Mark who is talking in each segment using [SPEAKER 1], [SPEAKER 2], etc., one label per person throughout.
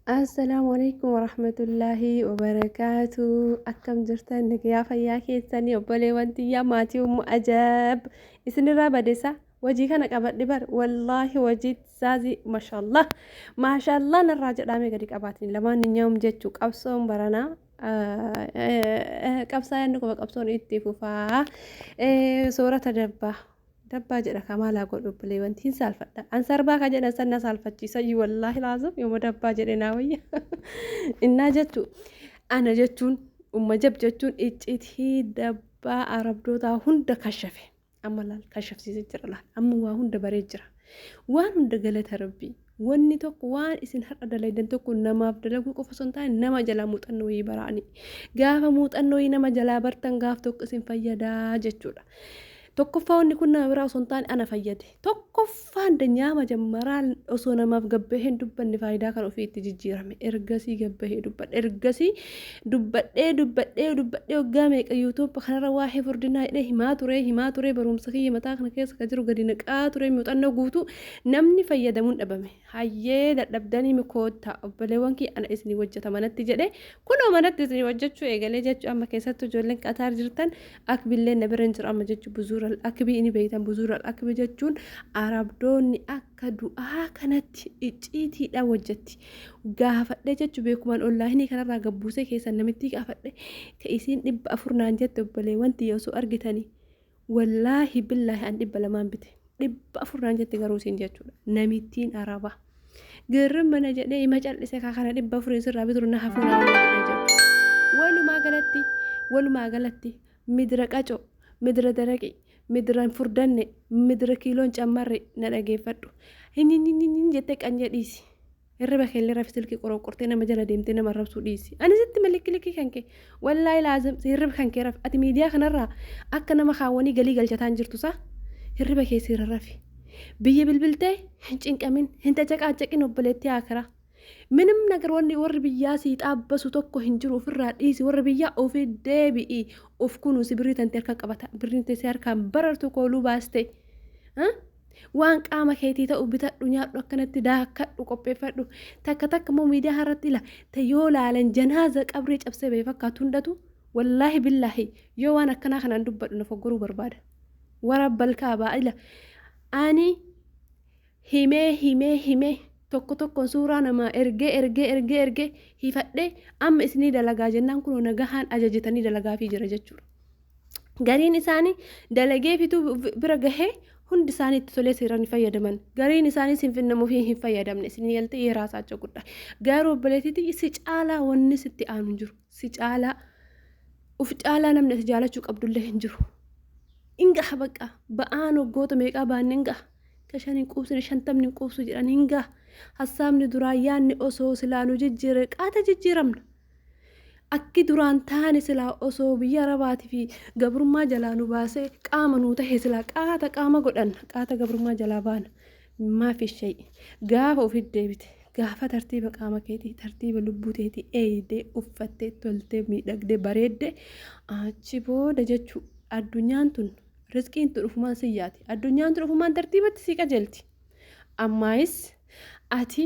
[SPEAKER 1] Assalaamu alaikum warahmatullaahi wabarakaatu akkam jirtan nagayaa fayyaa keessanii obboleewwan tiyyaa maatii ummu ajaab isinirraa badeessa wajii kana qabadhe bar wallaahi wajii saazii mashallah mashallah narraa jedhaame gadi qabaatin lamaan ninyaa'um jechuu qabsoon baranaa qabsaa yaadni quba qabsoon itti fufaa soorata dabbaa Dabbaa jedha kaa maal haa godhu obboleewwan hin saalfadha an sarbaa ka jedhan san na saalfachiisa iyyuu wallaahi laazim yooma dabbaa jedhe naa wayya innaa jettu ana jechuun umma jab jechuun iccitii dabbaa arabdootaa hunda kashafe amma laal kashafsiise jira laal amma waa hunda baree jira waan hunda galata rabbii Wanni tokko waan isin har'a dalaydan tokko namaaf dalaguu qofa osoo hin taane nama jalaa muuxannoo wayii baraani. Gaafa muuxannoo wayii nama jalaa bartan gaaf tokko isin fayyadaa jechuudha. Tokkoffaa wanni kun nama biraa osoo hin taane ana fayyade. Tokkoffaan danyaa majammaraa osoo namaaf gabbahee hin dubbanne faayidaa kan ofii itti jijjiirame. Ergasii gabbahee dubbadhe. Ergasii dubbadhee dubbadhee dubbadhee waggaa meeqa yuutuuba kanarra waa'ee furdinaa hidhee himaa turee himaa turee barumsa kiyya mataa kana keessa kan jiru gadi naqaa turee muuxannoo guutuu Namni fayyadamuun dhabame, hayyee dadhabdaniimi koottaa obboleewwan kiyya ana isinii hojjata manatti jedhee kunoo manatti isinii hojjachuu eegalee jechuu amma keessattuu ijoolleen Qataar jirtan akbilleen na bira hin jiru amma jechuu buzuural akbii ini beeytan buzuural akbi jechuun arabdoonni akka du'aa kanatti icciitiidhaan hojjatti gaafadhe jechuu beekumaan ollaahinii kanarraa gabbuusee keessan namittii gaafadhe ka isiin dhibba afur naan jette obboleewwan tiyya osoo argitanii Wallaahi billaahi an dhibba lamaan bite dhibba afur naan jette garuu siin jechuudha namittiin araba girrim mana jedhee ima cal'ise kaa kana dhibba afuriin sirraa bituru na hafuu naa jedhee jirti walumaa galatti walumaa galatti midira qacoo midira daraqii midira hin furdanne midira kiiloon cammarre na dhageeffadhu hin hin hin hin hin jettee qanyee dhiisi. Hirriba keellee rafi silkii qoroqortee nama jala deemtee nama arrabsuu dhiisi. Ani sitti malikkilikii kan kee. Wallaahi laazim si hirriba kan kee rafi. Ati miidiyaa kanarraa akka nama kaawwanii galii galchataan jirtu saa. Hirriba kee siira rafi. Biyya bilbiltee hin cinqamin, hin cacaqaacaqin obboleettii akiraa. Minim nagar wanni warri biyyaa sii xaabbasu tokko hin jiru ofirraa dhiisi warri biyyaa ofi deebi'i of kunuusi birrii tante harka qabata birriin tee si harkaan barartu kooluu baaste. Waan qaama keetii ta'u bitadhu nyaadhu akkanatti daakkadhu qopheeffadhu. Takka takka immoo miidiyaa irratti ila ta yoo laalan janaaza qabrii cabsee ba'e fakkaatu hundatu wallaahi billaahi yoo waan akkanaa kanaan dubbadhu na foggoruu barbaada. Warabbal kaabaa ila ani himee himee himee tokko tokkoon suuraa namaa ergee ergee ergee ergee hifadhee amma isinii dalagaa jennaan kunoo nagahaan ajajitanii dalagaafii jira jechuudha. gariin isaanii dalagee fituu bira gahee hundi isaanii itti tolee seeraan hin fayyadaman gariin isaanii sin finnamuuf hin fayyadamne sin yaltee yeraa saacha gudda garuu obboleetiti si caalaa wanni sitti aanu hin jiru si caalaa uf caalaa namni ati jaalachuu qabdullee hin jiru hin gaha bakka ba'aan waggoota meeqaa ba'an hin gaha ka shan hin quubsine shantamni hin quubsu jedhan hin gaha hassaabni duraa yaanni osoo silaanu jijjiire qaata jijjiiramna Akki duraan taane silaa osoo biyya Arabaatii fi gabrummaa jalaa nu baasee qaama nuu tahe silaa qaata qaama godhanna qaata gabrummaa jalaa baana maafi shayi gaafa ofiif deebite gaafa tartiiba qaama keetii tartiiba lubbuu teetii eeydee uffattee toltee miidhagdee bareedde achi booda jechuu addunyaan tun rizqiin tun ufumaan siyyaati addunyaan tun ufumaan tartiibatti sii qajeelti ammaayis ati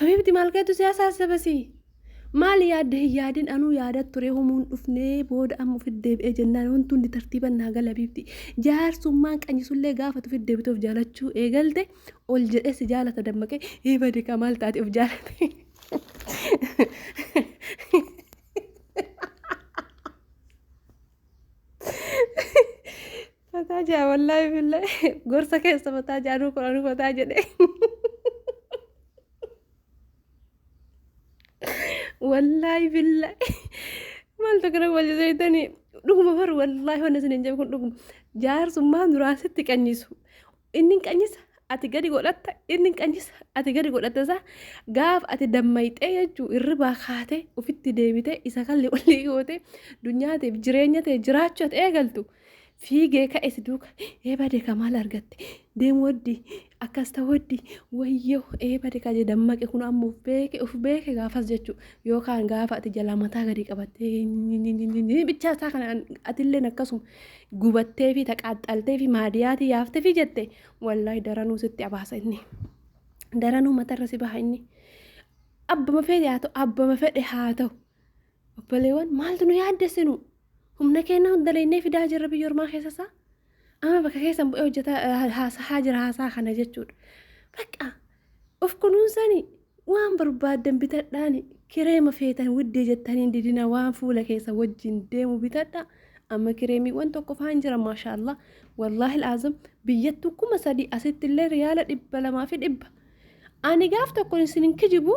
[SPEAKER 1] Habiibti maal keetu siyaasa haasabasii? Maali yaadde hin yaadin anuu yaadat ture humuun dhufnee booda amma ofitti deebi'ee jennaan wanti hundi tartiiban naa gala Habiibti. Jaarsummaan qanyisullee gaafatu ofitti deebitee of jaalachuu eegalte ol jedhee si jaalata dammaqee hii bade kaa maal taate of jaalate. Fataa jaa wallaahi billahi gorsa keessa fataa jaa anuu kun anuu fataa jedhe. Wallaahi billahi maaltu kana wajji seetanii dhuguma bar wallaahi wanni isin hin jedhu kun dhuguma jaarsummaa duraan sitti qanyisu Inni hin qanyisa ati gadi godhatta inni hin qanyisa ati gadi godhatta isaa gaaf ati dammayxee jechuu hirribaa kaatee ofitti deebitee isa kalli walii gootee dunyaatiif jireenya ta'e jiraachuu ati eegaltu fiigee ka'e si duuka ee bade ka maal argatte deemu waddi akkas ta'u waddi wayyoo ee bade ka jee dammaqe kun ammoo of beeke of beeke gaafas jechuu yookaan gaafa ati jalaa mataa gadi qabattee bichaa isaa kana atilleen akkasuma gubatteefi taqaaxxalteefi maadiyaatii yaaftefi jette wallaahi daranuu sitti abaasa inni daranuu matarra si baha inni abbama fedhe haa ta'u abbama fedhe haa ta'u obboleewwan maaltu nu yaaddessinu humna keenna hundaleennee fidaa jirra biyya ormaa keessasaa amma bakka keessan bu'ee hojjeta haasaa jira haasaa kana jechuudha bakka Of kunuunsani waan barbaaddan bitadhaani kireema feetan widdii jettaniin didina waan fuula keessa wajjin deemu bitadha amma kireemiiwwan tokko faan jira maashaallah wallaahil azam biyyattu kuma sadii asitti illee riyaala dhibba lamaa fi dhibba ani gaaf tokko isin hin kijibu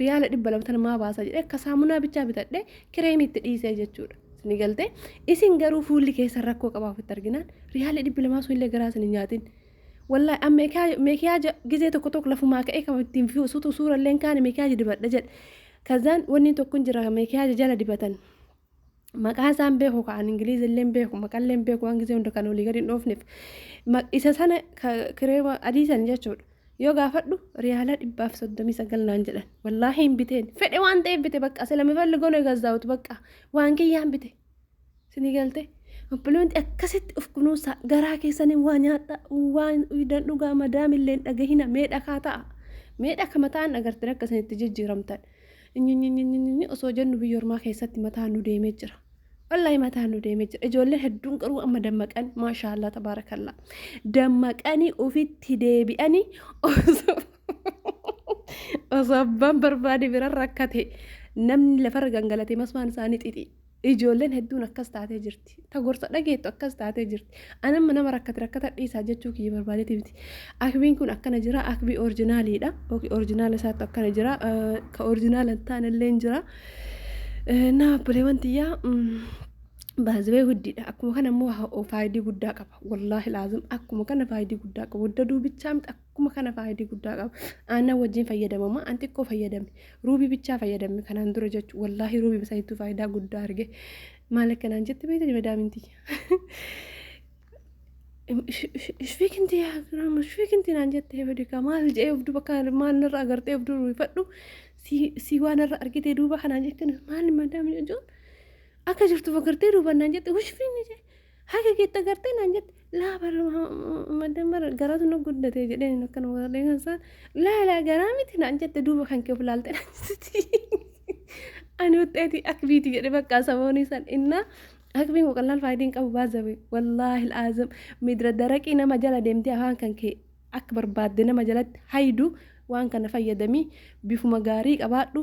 [SPEAKER 1] riyaala dhibba lama tana maa baasa jedhee akka saamunaa bichaa bitadhee kireemii itti dhiisee jechuudha. Isin galtee isin garuu fuulli keessan rakkoo qabaa ofitti arginaan riyaala dhibba lamaa sun illee garaa isin hin nyaatin. Wallaahi an meekiyaaja gizee tokko tokko lafumaa ka'ee kan ittiin suutu suura illee hin kaane meekiyaaja dibadha jedhe. Kazaan wanni tokko hin jira meekiyaaja jala dibatan. maqaa isaan beeku ka an ingiliizi illee beeku maqallee beeku waan gisee hunda kan olii gadi hin dhoofneef isa sana kiree adii san jechuudha yoo gaafadhu riyaalaa dhibbaaf soddomii sagal naan jedhan wallaahi hin biteen fedhe waan ta'eef bite bakka silamifalli gono egazaawutu bakka waan kiyyaan bite sinii galte obboloonti akkasitti of kunuunsaa garaa keessanii waa nyaadha waan idan dhugaa madaamillee dhagahina mee dhakaa ta'a mee dhaka mataan agartee akka isinitti jijjiiramtan Nynynynynyn osoo jennu biyya ormaa keessatti mataa nu deemee jira. Wallahi mataa nu deemee jira. Ijoolleen hedduun garuu amma dammaqan maashaa Allah tabaarakallaa. Dammaqanii ofitti deebi'anii osoo osoo abbaan barbaade bira rakkate namni lafarra gangalate masmaan isaanii xixi. Ijoolleen hedduun akkas taatee jirti. Ta gorsa dhageettu akkas taatee jirti. Ani amma nama rakkate rakkata dhiisaa jechuu kiyya barbaadeeti miti. Akbiin kun akkana jira, akbii orjinaaliidha. Yookiin orjinaala isaattu akkana jira, ka orjinaala hin taanellee jira. Naa obboleewwan tiyyaa baazibee guddiidha. Akkuma kana immoo faayidii guddaa qaba. Wallaahi laazim akkuma kana faayidii guddaa qaba. Wadda duubichaa miti Akkuma kana faayidii guddaa qaba. Aannan wajjin fayyadamama. An xiqqoo fayyadame. Ruubii bichaa fayyadame kanaan dura jechuudha. Wallaahi ruubii bisaa hedduu faayidaa guddaa arge. Maal akkanaan jette beekte madaamin tiyya. Ishfii kinti yaa giraama ishfii kinti naan jette beekaa maal jee of duuba kaan maal narra agartee of duuba ifadhu si waan irra argitee duuba kanaan jette maal madaamin jechuun akka jirtuuf agartee duuba naan jette ishfii ni jee. Haga keetti agartee naan jette laa bar maddan bar garaatu na guddate jedheen hin akkana godhadhee kan isaan laa laa garaa miti naan jette duuba kan kee of laalte naan jette ani uxxeeti akbiiti jedhe bakka saboonii san innaa akbiin koo qallaal faayidii hin qabu baazabe wallaahi al'aazam midra daraqii nama jala deemtee afaan kan kee akka barbaadde nama jalatti haydu waan kana fayyadamii bifuma gaarii qabaadhu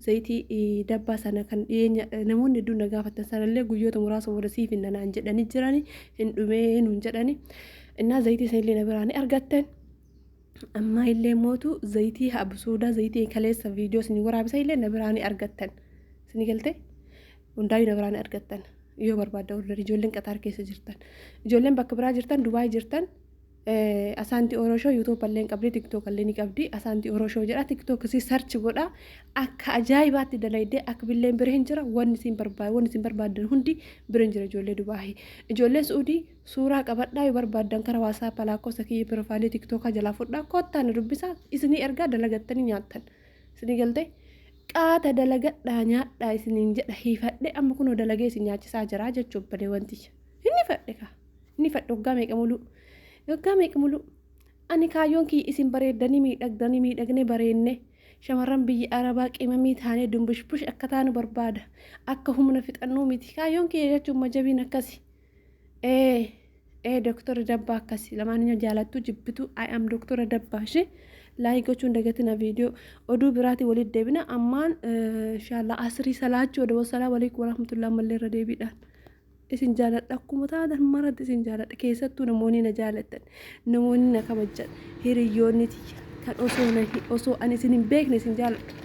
[SPEAKER 1] Zayitii dabbaa sana kan dhiyeenya namoonni hedduun na gaafattan sanallee guyyoota muraasa booda siif hin nanaan jedhanii jirani hin dhumee nuun jedhani. Innaa zayitii sanillee na biraa ni argattan. Ammaa illee mootu zayitii absuudaa zayitii kaleessa viidiyoo isin waraabisa illee na biraa ni argattan. Isin galtee? Hundaayyuu na biraa ni argattan. Yoo barbaadda ordarii ijoolleen qaxaar keessa jirtan. Ijoolleen bakka biraa jirtan Dubaay jirtan Asaanti Oro Show YouTube illee qabdi, TikTok illee ni qabdi. Asaanti Oro Show jedha. TikTok isii search godha. Akka ajaa'ibaatti dalaydee akka billeen bira hin jira. Wanni isin barbaad, wanni isin barbaaddan hundi bira hin jira ijoollee Dubaahi. Ijoollee Suudii suuraa qabadhaa yoo barbaaddan kara WhatsApp lakkoofsa kiyya pirofaalii TikTokaa jalaa fudhaa kottaa na dubbisaa isinii ergaa dalagattanii nyaattan. Isinii galtee? Qaata dalagadhaa nyaadhaa isiniin jedha hiifadhe amma kunoo dalagee isin nyaachisaa jira jechuun balee wanti. Inni fadhe kaa. ni fadhu waggaa meeqa muluu waggaa meeqa muluu ani kaayyoon kiyya isin bareeddanii miidhagdanii miidhagnee bareenne shamarran biyya arabaa qimamii taanee dumbushbush akka taanu barbaada akka humna fixannuu miti kaayyoon kiyya jechuun majabiin akkasi ee ee doktora dabbaa akkasi lamaaniyyoo jaalattuu jibbituu i am doktora dabbaa ishee laayii gochuun dagatina viidiyoo oduu biraatii walitti deebina ammaan inshaallah asrii salaachuu wada wasalaa waliikum warahmatullahi ammallee irra deebiidhaan isin jaaladha akkuma taatan maratti isin jaaladha keessattuu namoonni na jaalatan namoonni na kabajjan hiriyyoonni tiyya kan osoo na osoo ani isin hin beekne isin jaaladha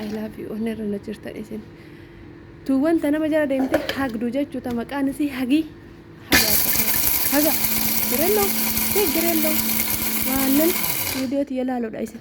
[SPEAKER 1] I love you onnee irra na jirtan isin tu wanta nama jala deemte hagdu jechuu ta maqaan isii hagii hagaa akkasuma haga jirelloo tee jirelloo waanan viidiyoo tiyya laaludha isin